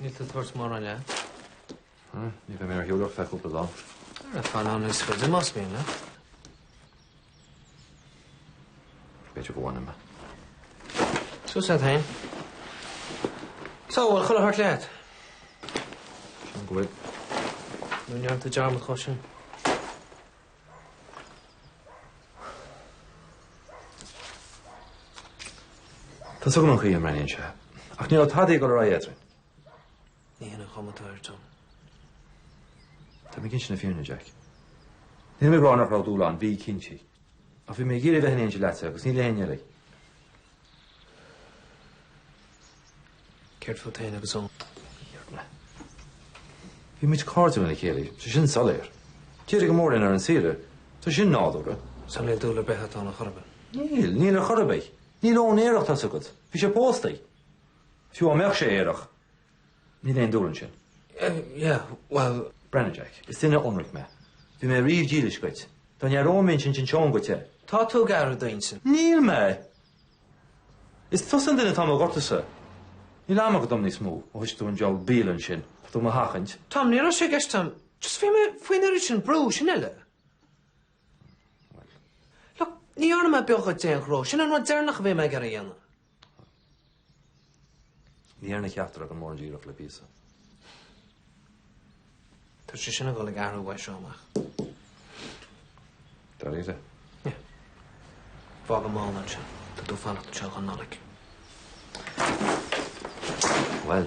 Níl tú ag tabhairt mórán leat. Ní bheidh mé ar shiúl ach ar feadh cúpla lá. Fan níos faide, más mian leat. Bit of one him. So said Hain. So, well, chuile hart leat. Sin go bhfuil. Nú neart a dearmad chu sin. Tá sugan an chuí an raon se. Ach níl tadaí go ra éidir. Ní hin an chuma atá air, Tom. Tá mé ag insint na fírinne, Jack. Níl mé ag rá nach raibh dúil ann, bí cinnte. Ach bhí mé ag iarraidh a bheith in éineacht leatsa agus ní le héinne eile. Céard fút féin agus Eoin? Iarr na. Bhí muid cairdiúil lena chéile, tá sin soiléir. D'éirigh go mór linn ar an saoire. Tá sin nádúrtha. So níl dúil ar bith agat ann ar chor ar bith? Níl, níl ar chor ar bith. Níl Eoin aerach, tá a fhios agat. Bhí sé pósta. Fiú dá mbeadh sé aerach, Níl aon dúil ansin. Yeah, well. Breathnaigh, Jack, is duine ionraic mé. Bhí mé riamh dílis dhuit. Dá n-athróinn m'intinn d'inseoinn dhuit é. Tá tú ag athrú d'intinn. Níl mé! Is tusa an duine atá i mo ghortúsa. Níl am agat dom níos mó, ó thosaigh tú an diabhal bialann sin, tá tú i mo sheachaint. Tom, ní raibh sé i gceist agam. Just bhí mé faoin oiread sin brú, sin uile. Look, ní fhearr liom é beoga ag déan ghró, sin an rud deireanach a bhí mé ag iarraidh a dhéanamh. Ní dhearna ceachtar againn mórán d'iarracht le píosa. Tá sé sin ag dul ag athrú uaidh seo amach. Dáiríre. Yeah. Fág an mála ansin. Tá tú ag fanacht anseo don Nollaig. Bhuel.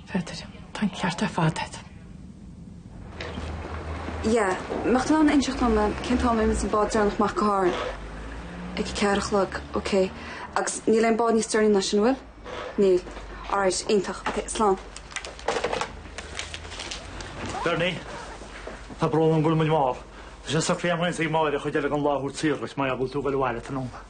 Pheadair, Tá an ceart ar fad agat. Yeah, mbeadh tú in ann inseacht dom cén t-am a imíonn an bád deireanach amach go hÁrainn. Ag a ceathair a chlog, ok. Agus níl aon bád níos deireanaí ná sin, an bhfuil? Níl. Alright, iontach. Ok, slán. Bernie, Tá brón orm go bhfuil muid mall. Tá sé socraithe an Ghaelscéim Mór ar chuid eile den láthair tíre agus má fhágfaidh tú go abhaile, ta ann.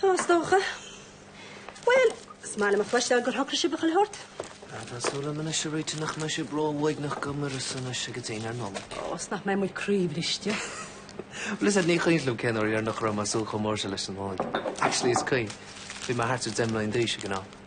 Tá, is dócha. Bhuel, is maith liom a chloisteáil gur shocraigh sibh chuile shórt. Tá súil agam anois a réitigh nach mbeidh sibh ró-uaigneach gan Muiris anois go dtí an Nollaig. Ó, is nach mbeidh muid croíbhriste. Bhuel, is ní cuimhin liom cén uair dheireanach a raibh mé ag súil chomh mór sin leis an Nollaig. Actually, is cuimhin. Bhí mé thart ar deich mbliana d'aois ag an am.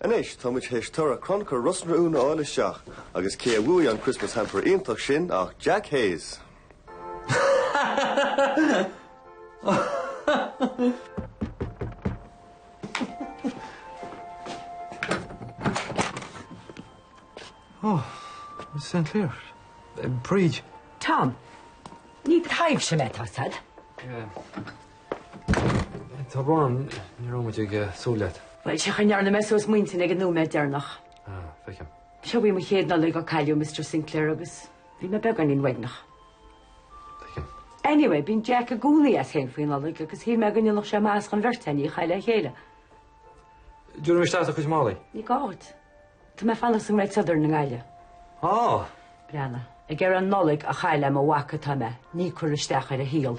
Anois, tá muid théis toradh crannchur Ros na Rún a fháil isteach, agus cé a bhuaigh an Christmas Hamper iontach sin ach Jack Hayes! Oh, Mrs. Sinclair. Uh, Bríd. Tom, ní taibhse mé tá a fhios agat. Yeah. Tá brón orm, ní raibh muid ag súil leat. Bhuel, sé an chaoi a ndearna mé suas m'intinn ag an nóiméad deireanach. Ah, feicim. Seo í mo chéad Nollaig ó cailleadh Mister Sinclair, agus bhí mé beagáinín uaigneach. Feicim. Anyway, bíonn Jack i gcónaí as féin faoin Nollaig, agus shíl mé go ndéanfadh sé maitheas don bheirt againn í a chaitheamh le chéile. Tabharfaidh mé isteach do chuid málaí. Ní gá dhuit. Tá mé ag fanacht sa nGreat Southern i nGaillimh. Ah! Breathnaigh. Ag iarraidh an Nollaig a chaitheamh le mo mhac atá mé, ní ag cur isteach ar a shaol.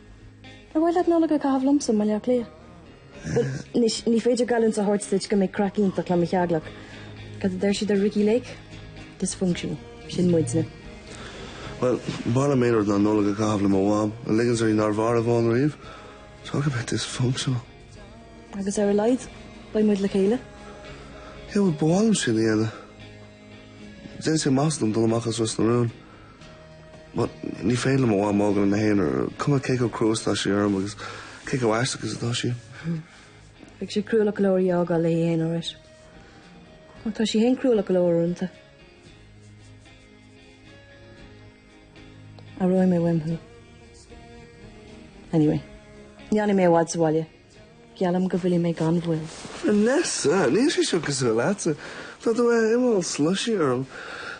Ar mhaith leat an Nollaig a chaitheamh liomsa i mBleá Cliath? Bhuel, anois, ní féidir geallúint a thabhairt duit go mbeidh craic iontach le mo theaghlach. Cad a deir siad ar Ricki Lake? Dysfunctional. Sin muidne. Bhuel, b'fhearr liom aon rud ná Nollaig a chaitheamh le mo mham, a ligeanns uirthi nár mhair Yvonne riamh. Talk about dysfunctional. Agus ar a laghad, beidh muid le chéile. Yeah, bhuel, ba mhaith liom sin a dhéanamh. Dhéanfadh sé maitheas dom dul amach as Ros na Rún. But, ní féidir liom mo mham a fhágáil ina haonar, cuma cé chomh crua is atá sí orm agus cé chomh haisteach is atá sí. Bheadh sé cruálach go leor í a fhágáil léi féin, alright. Ach tá sí féin cruálach go leor uaireanta. Aireoidh mé uaim thú. Anyway, ní fhanfaidh mé i bhfad sa bhaile. Geallaim go bhfillfidh mé gan mhoill. Vanessa! Níl sé seo cosúil leatsa. Tá tú imithe all slushy orm.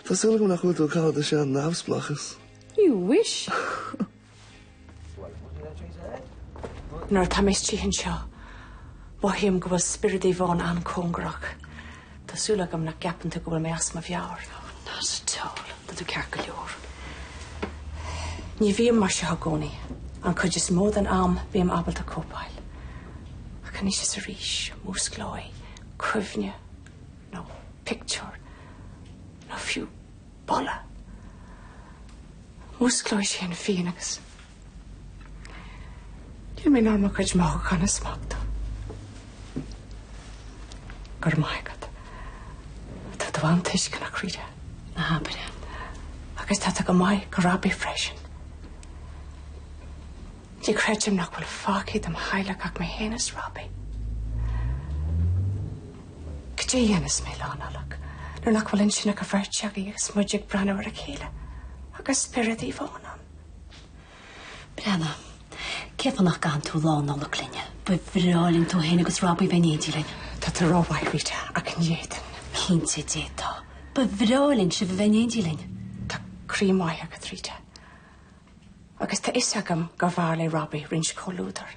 Tá súil agam nach bhfuil tú ag cailleadh do shean-neamhspleáchas. You wish! Nuair atá mé istigh anseo, mothaím go bhfuil spiorad Yvonne an-cóngarach. Tá súil agam nach gceapann tú go bhfuil mé as mo mheabhair. Not at all. Tá tú ceart go leor. Ní bhím mar seo i gcónaí. An chuid is mó den am, bím ábalta cóipeáil. Ach anois is arís, músclóidh cuimhne, nó pictiúr, nó fiú boladh. Músclóidh sé an phian agus Níl mé in ann mo chuid mothúchán a smachtú. Go raibh maith agat. Tá tú an-tuisceanach, Rita. Ná habair é. Agus tá tú go maith do Robbie freisin. Ní chreidim nach bhfuil fágtha de mo theaghlach ach mé féin is Robbie. Cad é a dhéanfas mé Lá Nollag nuair nach bhfuil ansin ach an bheirt againn agus muid ag breathnú ar a chéile agus spiorad Yvonne ann? Brianna, cé fá nach gcaitheann tú Lá Nollag linn? Ba bhreá linn tú fhéin agus Robbie a bheith in éindí linn. Tá tú rómhaith, Rita, ach ní fhéadfainn. Cinnte d'fhéadfá. Ba bhreá linn sibh a bheith in éindí linn. Tá croí maith agat, Rita. Agus tá 'fhios agam gur bhfearr le Robbie roinnt comhluadair.